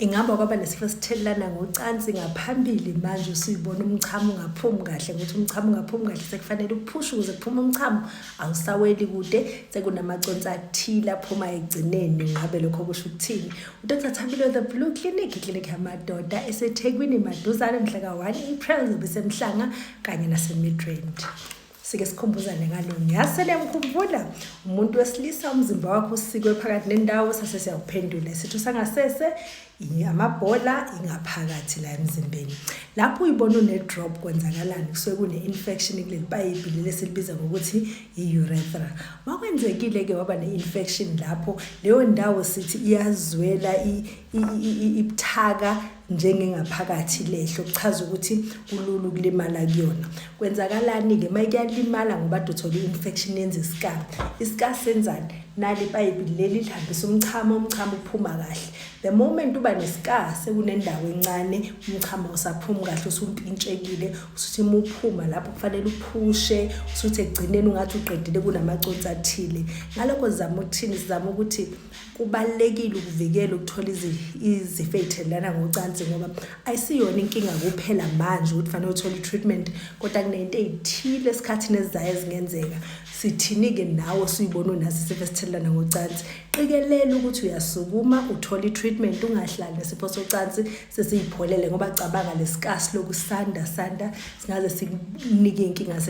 Ingabe kwaba nesifo sithelelana ngocansi ngaphambili manje usuyibona umchamo ungaphumi kahle ukuthi umchamo ungaphumi kahle sekufanele uphushe ukuze kuphume umchamo awusaweli kude sekunamaconsi athile aphuma egcineni ngabe lokho kusho ukuthini udr thabile the blue clinic iklinik yamadoda esethekwini maduzane mhla ka-1 april zobe semhlanga kanye nasemidrand sike sikhumbuzane ngalo ngiyasele ngikhumbula umuntu wesilisa umzimba wakho usikwe phakathi nendawo sase siyakuphendula isitho sangasese amabhola ingaphakathi la emzimbeni lapho uyibona une-drop kwenzakalani kusuke kune-infection kuleli payipi leli esilibiza ngokuthi i-urethra makwenzekile-ke waba ne-infection lapho leyo ndawo sithi iyazwela ibuthaka njengengaphakathi lehlo kuchaza ukuthi kulula ukulimala kuyona kwenzakalani-ke uma kuyalimala ngoba dothola i-infection yenza isikara isikara senzani nali ipayipi leli lihambisa umchamo umchamo uphuma kahle the moment uba nesikara sekunendawo encane umchamo usaphumi kahle usumpintshekile usuthi uma uphuma lapho kufanele uphushe usuthi ekugcineni ungathi uqedile kunamaconsi athile ngalokho sizama ukuthini sizama ukuthi kubalulekile ukuvikela ukuthola izifo ey'thelelana ngocansi ngoba ayisiyona inkinga kuphela manje ukuthi fanele uthole i-treatment kodwa kunento ey'thile esikhathini ezizayo ezingenzeka sithini-ke nawe suyibona unaso isifo esithelelana ngocansi qikelela ukuthi uyasukuma uthole i-treatment ungahlali nesifo socansi sesiyipholele ngoba cabanga lesikasi lokusanda sanda singaze sikunike iy'nkinga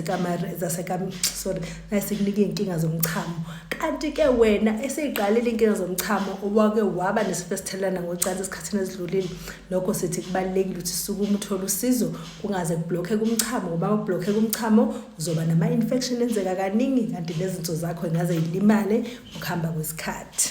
sorry naye sikunike iy'nkinga zomchamo kanti-ke wena eseyiqalile iy'nkinga zomchamo owake waba nesifo esithelelana ngocansi esikhathini ezidlulile lokho sithi kubalulekile ukuthi sukume uthole usizo kungaze kubhlokhe kumchamo ngoba kubhlokhe kumchamo uzoba nama-infection enzeka kaningi kanti nezinso zakho ingaze yilimale ukuhamba kwesikhathi